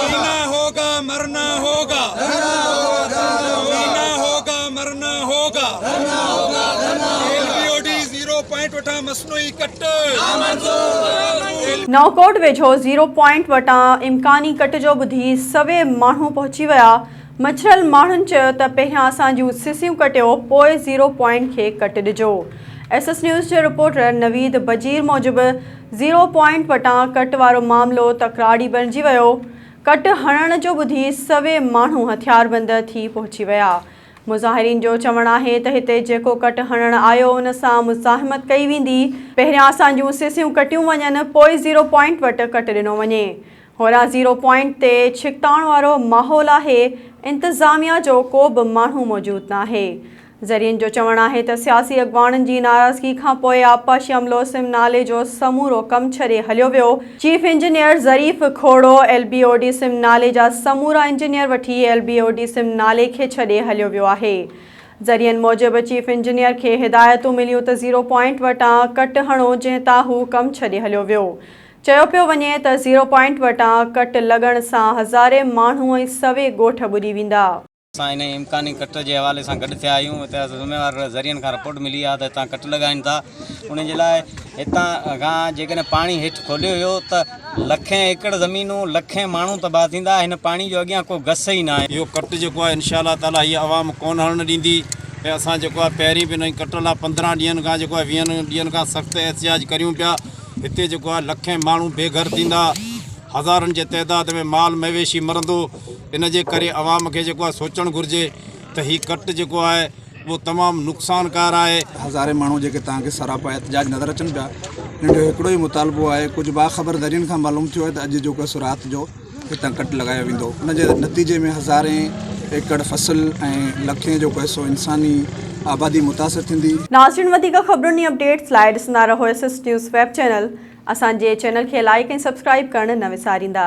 جينا هوگا مرنا هوگا ڌرنا هوگا ڌرنا هوگا جينا هوگا مرنا هوگا ڌرنا هوگا ڌرنا هوگا L B O D zero point وٽان مصنوعي ڪٽ نامنظور نئونڪوٽ ويجهو زيرو پوائنٽ وٽان امڪاني ڪٽ جو ٻڌي سوين ماڻهو پهچي ويا، مڇرل ماڻهن چيو ته پهريان اسان جون سسيون ڪٽيو پوء زيرو پوائنٽ کي ڪٽ ڏجو، ايس ايس نيوز جي رپورٽر نويد بجير موجب زيرو پوائنٽ وٽان ڪٽ وارو معاملو تڪراري بڻجي ويو، ڪٽ هڻڻ جو ٻڌي سوين ماڻهو هٿياربند ٿي پهچي ويا، مظاهرين جو چوڻ آهي ته هتي جيڪو ڪٽ هڻڻ آيو ان سان مزاحمت ڪئي ويندي، پهريان اسان جون سيسيون ڪٽيون وڃن پوء زيرو پوائنٽ وٽ ڪٽ ڏنو وڃي، هورا زيرو پوائنٽ تي ڇڪتاڻ وارو ماحول آهي، انتظاميا جو ڪو به ماڻهو موجود ناهي، ذريعن جو چوڻ آهي ته سياسي اڳواڻن جي ناراضگي کانپوء آبپاشي عملو سم نالي جو سمورو ڪم ڇڏي هليو ويو، chief engineer Zarif Khuhro L B O D سم نالي جا سمورا انجنيئر وٺي ايل بي او ڊي سم نالي کي ڇڏي هليو ويو آهي. ذريعن موجب چيف انجنيئر کي هدايتون مليون ته زيرو پوائنٽ وٽان ڪٽ هڻو جنهن تان هو ڪم ڇڏي هليو ويو. چيو پيو وڃي ته زيرو پوائنٽ وٽان ڪٽ لڳڻ سان هزارين ماڻهو ۽ سوين ڳوٺ ٻڏي ويندا. اسان انهي امڪاني ڪٽ جي حوالي سان گڏ ٿيا آهيون اتي ذميوار ذريعن کان رپورٽ ملي آهي ته هتان ڪٽ لڳائين ٿا ان جي لاء هتان کان جيڪڏهن پاڻي هيٺ کوليو ويو ته لکين ايڪڙ زمينون لکين ماڻهو تباهه ٿيندا هن پاڻي جو اڳيان ڪو گس ئي ناهي. اهو ڪٽ جيڪو آهي انشاء الله تعالٰي هي عوام ڪونه هلڻ ڏيندي ۽ اسان جيڪو آهي پهرين به انهي ڪٽ لاء پندرهن ڏينهن کان جيڪو آهي ويهن ڏينهن کان سخت احتجاج ڪريون پيا هتي جيڪو آهي لکين ماڻهو بي گهر ٿيندا هزارن جي تعداد ۾ مال مويشي مرندو ان جي ڪري عوام کي جيڪو آهي سوچڻ گهرجي ته هي ڪٽ جيڪو آهي اهو تمام نقصانڪار آهي. هزارين ماڻهو جيڪي توهان کي سراپا احتجاج نظر اچن پيا انهن جو هڪڙو ئي مطالبو آهي ڪجهه باخبر ذريعن کان معلوم ٿيو آهي ته اڄ جيڪو سو رات جو هتان ڪٽ لڳايو ويندو ان جي نتيجي ۾ هزارين ايڪڙ فصل ۽ لکين جو ڪوهي سو انساني آبادي متاثر ٿيندي. ناظرين وڌيڪ خبرن ۽ اپڊيٽس لاء ڏسندا رهو S S news web channel اسان جي چينل کي لائيڪ ۽ سبسڪرائيب ڪرڻ نه وساريندا.